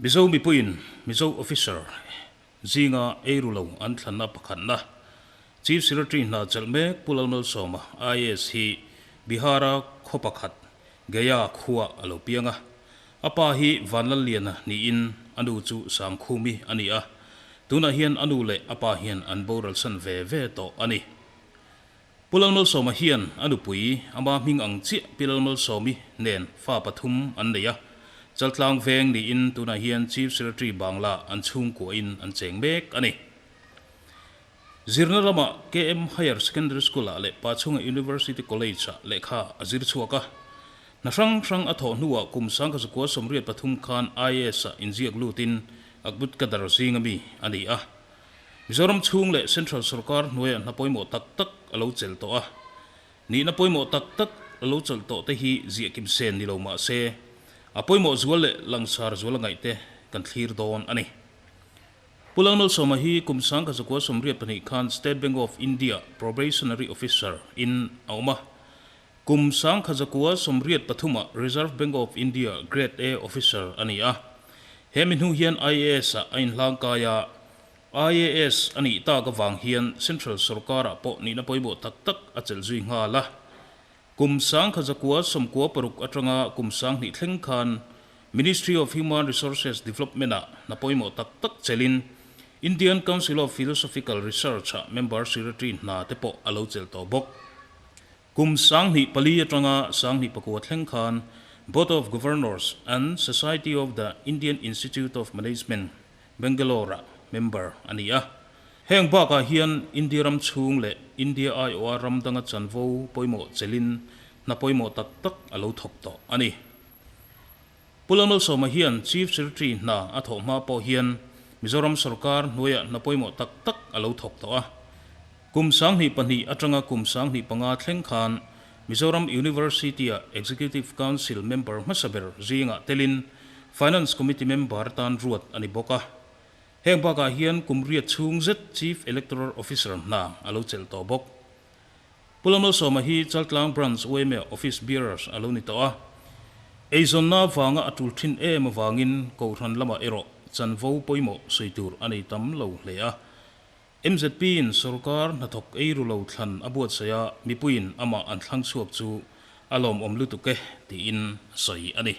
Mizo mipuiin Mizo officer zinga eiru lo an thlan a pakhatna Chief Secretary hna chelh mek Pu Lalmalsawma IAS hi Bihara khaw pakhat Gaya khua a lo piang a. A pa hi Vanlalliana niin a nu chu Sangkhumi a ni a. Tunah hian a nu leh a pa hian an boralsan ve ve tawh a ni. Pu Lalmalsawma hian a nupui ama hming ang chiah Pi Lalmalsawmi nen fa pathum an nei a, chaltlang veng niin tunah hian Chief Secretary Bangla an chhungkuahin an cheng mek a ni. Zirna lama KM Higher Secondary School-ah leh Pachunga University College-ah lehkha a zir chhuak a, hna hrang hrang a thawh hnuah kum sangka zakua sawmriat pathum khan IAS-ah inziak lutin Akbut Kadar zing a mi a ni a, Mizoram chhung leh central sawrkar hnuaia hna pawimawh tak tak a lo chel tawh a, nihna pawimawh tak tak a lo chawlh tawh te hi ziah kim sen ni lo mah se, a pawimawh zual leh langsar zual a ngaih te kan thlir dawn a ni. Pu Lalmalsawma hi kum sangka zakua sawmriat pahnih khan State Bank of India Probationary Officer in a awm a, Kum Sangkhajakuwa sawmriat pathuma Reserve Bank of India Grade A Officer a ni a, he mihnu hian IAS-ah a inhlang kai a. IAS a nih tak avang hian Central Sorkar-ah pawh nihna pawimawh tak tak a chelh zui nghal a. Kum Sangkhajakuwa sawmkua paruk atanga kum sang hnih thleng khan Ministry of Human Resources Development-ah hna pawimawh tak tak chelhin Indian Council of Philosophical Research-ah member secretary hna te pawh a lo chel tawh bawk. Kum sanghnih pali atanga sanghnih pakua thleng khan Board of Governors and Society of the Indian Institute of Management, Bangalore-a member a ni a. Heng bakah hian India ram chhung leh India aiawha ram danga chanvo pawimawh chelhin hna pawimawh tak tak a lo thawk tawh a ni. Pu Lalmalsawma hian Chief Secretary hna a thawh hma pawh hian Mizoram sawrkar hnuaiah hna pawimawh tak tak a lo thawk tawh a. Kum sanghnih pahnih atanga kum sanghnih panga thleng khan Mizoram University-a Executive Council member hmasa ber zingah telin Finance Committee member tan ruat a ni bawk a. Heng bakah hian kum riat chhung zet Chief Electoral Officer hna a lo chelh tawh bawk. Pula Malsawma hi Chaltlang Branch UMA Office Bearers a lo ni tawh a, eizawnna vanga a tul thin em avangin Kohhran lamah erawh chanvo pawimawh sawi tur a nei tam lo hle a. MZP-in sorkar hnathawk ei ru lo thlan a buatsaih a, mipuiin amah an thlang chhuak chu a lawmawm lutuk e, tiin sawi a ni.